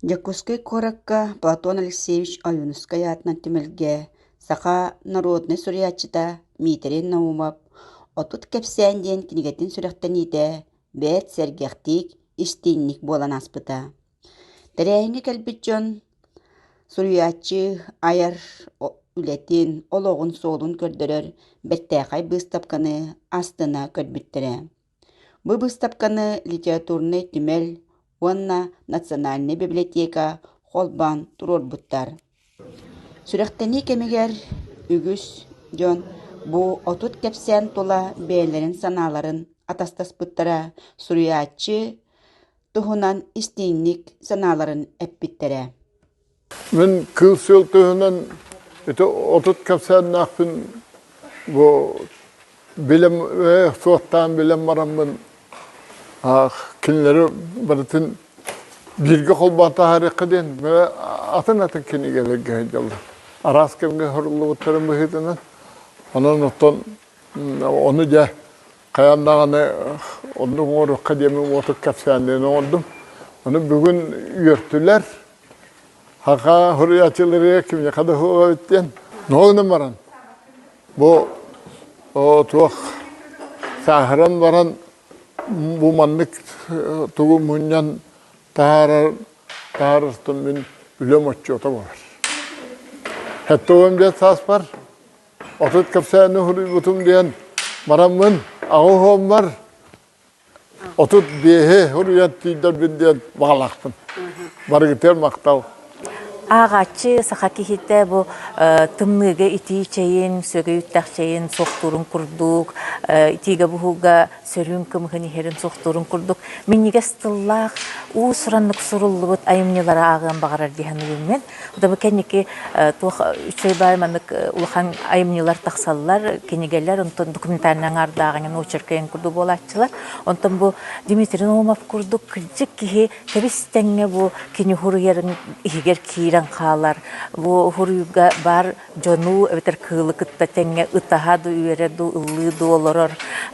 Дьокуускай куоракка Платон Алексеевич Ойуунускай аатынан түмэлгэ саха норуодунай суруйааччыта Миитэрэй Наумов «Отут кэпсээн» диэн кинигэтин сүрэхтэниитэ бэрт сэргэхтик, истиҥник буолан ааспыта. Тэрээһиҥҥэ кэлбит дьон суруйааччы айар үлэтин, олоҕун суолун көрдөрөр бэртээхэй быыстапканы астына көрбүттэрэ. Бу быыстапканы литературнай түмэл уонна национальнай библиотека холбоон туруорбуттар. Сүрэхтэнии кэмигэр үгүс дьон бу отут кэпсээн тула бэйэлэрин санааларын атастаспыттара, суруйааччы туһунан истиҥник санааларын эппиттэрэ. Мин кыыл-сүөл туһунан ити отут кэпсээннээхпин бу билим суохтаан билэн бараммын кинилэри барытын бииргэ холбоотаһарыахха диэн атын атын кинигэлэргэ сылдьаллар араас кэмҥэ суруллубуттарын быһыытынан онон оттон ону дьэ хайаан даҕаны оннук оҥоруохха диэмин уотук кэпсээнинэн оҥордум ону бүгүн үөртүлэр Хахаа хуруйааччылырыа кимиэхэ да хуоҕабыт диэн нуолунан баран бу туох сааһыран баран бу маннык тугу мунньан таһаарар таһаарыстым мин үлэм отчуота буолар. Хэтте уон биэс сааспар отут кэпсээни хуруйбутум диэн бараммын аҕы хооммар Отут биэһи уруйан тиийдэрбин диэн баҕалаахпын. Барыгытыгар махтал. Ааҕааччы саха киһитэ бу тымныыга итии чэйин, сүөгэй үттэх чэйин суохтуурун курдук, итиигэ-буһууга сөрүүн кымыһын иһэрин суохтуурун курдук минньигэс тыллаах уус-ураннык суруллубут айымньылары ааҕыан баҕарар дии саныыбын мин. Дабы кэнники туох үчей бай маннык улахан айымньылар тахсаллар, кинигэлэр, онтон документальный аңаардааҕынан очеркайын курдук буолааччылар. Онтон бу Дмитрий Наумов курдук кырдьык киһи тэбис тэҥҥэ бу кини хуруйарын иһигэр киирэн хаалар, бу хуруйга баар дьону эбэтэр кыылы кытта тэҥҥэ ытаһа да үөрэ да ыллыы да олорор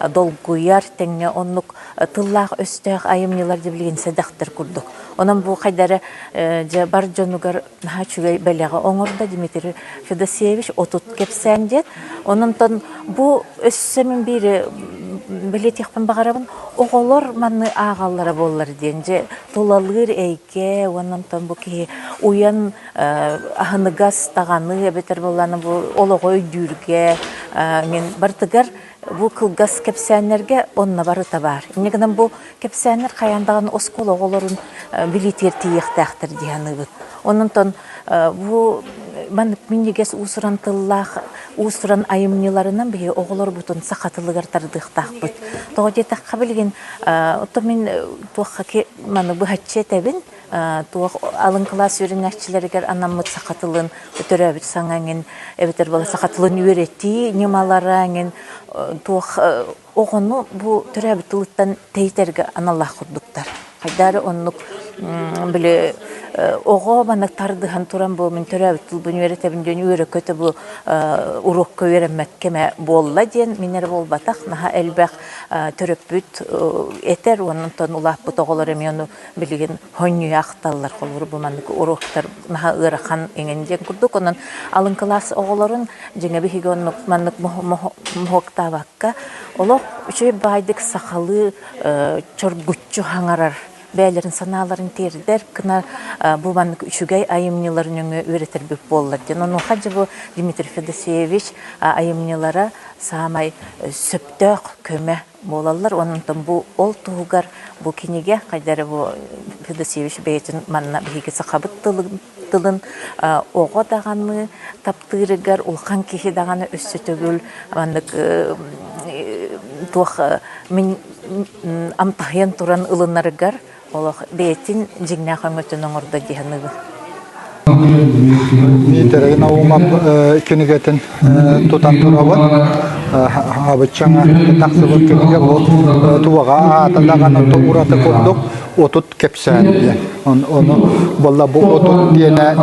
долгуйар тэҥҥэ оннук тыллаах-өстөөх айымньылар дьэ билигин сэдэхтэр курдук онон бу хайдары дьэ бар дьонугар наһаа үчүгэй бэлэҕи оҥордо дмитрий федосеевич отут кэпсээн диэн ононтон бу өссө мин биири билэтиэхпин баҕарабын оҕолор манны ааҕаллара буоллар диэн дьэ тулалыыр эйгэ уонна бу киһи уйан аһыныгас даҕаны эбэтэр буолланы бу олоҕу өйдүүргэ мин бартыгар бу кылгас кэпсээннэргэ онно барыта баар инньэ гынан бу кэпсээннэр хайаан даҕаны оскуола оҕолорун билиитигэр тиийиэхтээхтэр дии саныыбын ононтон бу маннык минньигэс уусуран тыллаах уусуран айымньыларынан биһи оҕолорбутун саха тылыгар тардыахтаахпыт тоҕо диэтэххэ билигин оттон мин туохха маны быһаччы этэбин туох алын кылаас үөрэнээччилэригэр анаммыт саха тылын төрөөбүт саҥа эҥин эбэтэр бала саха тылын үөрэтии ньымалара эҥин туох оҕону бу төрөөбүт тылыттан тэйитэргэ аналлаах курдуктар хайдары оннук били оҕо маны тардыһан туран бу мин төрөөбүт тылбын үөрэтэбин диэн үөрөкөтө бу уруокка үөрэммэт кэмэ буолла диэн мин эрэ буолбатах наһаа элбэх төрөппүт этэр уонна улааппыт оҕолор эмиэ ону билигин хонньуйа ахталлар холууру бу маннык уруоктар наһаа ыарахан иҥэн диэн курдук онон алын кылаас оҕолорун дьиҥэ биһиги оннук маннык моһуоктаабакка олох үчүгэй баайдык сахалыы чоргуччу хаҥарар бэйэлэрин санааларын тиэрдэр кына бу маннык үчүгэй айымньыларын нөҥө үөрэтэрбит буоллар диэн онуоха дьэ бу Дмитрий Федосеевич айымньылара саамай сөптөөх көмө буолаллар уонна онтон бу ол туһугар бу кинигэ хайдары бу Федосевич бэйэтин манна биһиги сахабыт тылын тылын оҕо даҕаны таптыырыгар улахан киһи даҕаны өссө төгүл маннык туох мин амтаһыйан туран ылынарыгар Олох бэйэтин дьиҥнээх өҥөтүн оҥордо дии саныыбын. Миитэрэгин ауымап кинигэтин тутан турабын абыччаҥа тахсыбыт кинигэ ол туwaҕа аата даҕаны ураты курдук отут кэпсээн диэн ону буолла бу отут диэнэ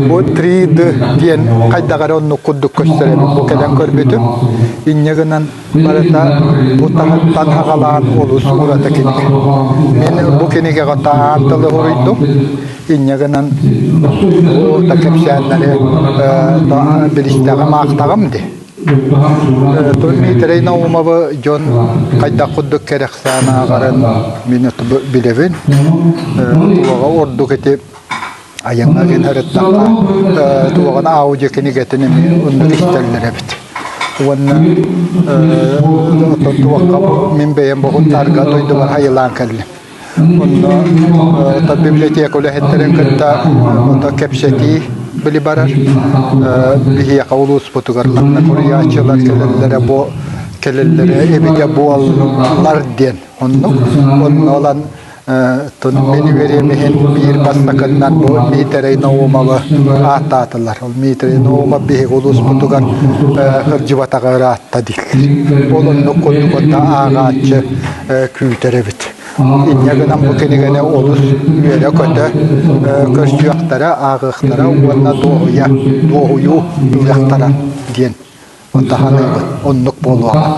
бу три д диэн хайдах эрэ оннук курдук көстөр эбит бу кэлэн көрбүтүм инньэ гынан Барыта бу таһыттан аҕалаан олус ураты кинигэ. Мин бу кинигэҕэ таан тылы уруйдум. Инньэ гынан бу да кэпсээннэри билистэҕим аахтаҕым дии. Тон Митрей Наумовы дьон хайдах курдук кэрэхсээн ааҕарын мин билэбин. Туоҕа ордук ити Айаҥҥа гин ырыттахха, туоҕана аудио кинигэтин эмиэ оннук истэллэр эбит. Уонна оттон туохха мин бэйэм боһуттарга дойдубар хайылаан кэллим. Онно библиотека үлэһиттерин кытта онно кэпсэтии били барар. Биһиэхэ улууспутугар манна куруйааччылар кэлэллэрэ бу кэлэллэрэ эбитэ буоллар диэн оннук. Онно ылан Мин үөрэниһин биир бастакыннан бу Миитэрэй Наумовы ааттаатылар. Ол Миитэрэй Наумов биһиги улууспутугар кырдьыбатаҕа ыраатта дииллэр. Ол оннук курдугунна ааҕааччы күүтэр эбит. Инньэ гынан бу кинигэни олус үөрэ-көтө көрсүөхтэрэ, ааҕыахтара уонна дуоһуйа, дуоһуйуу ылыахтара диэн таһаныыбыт оннук буолуоҕа.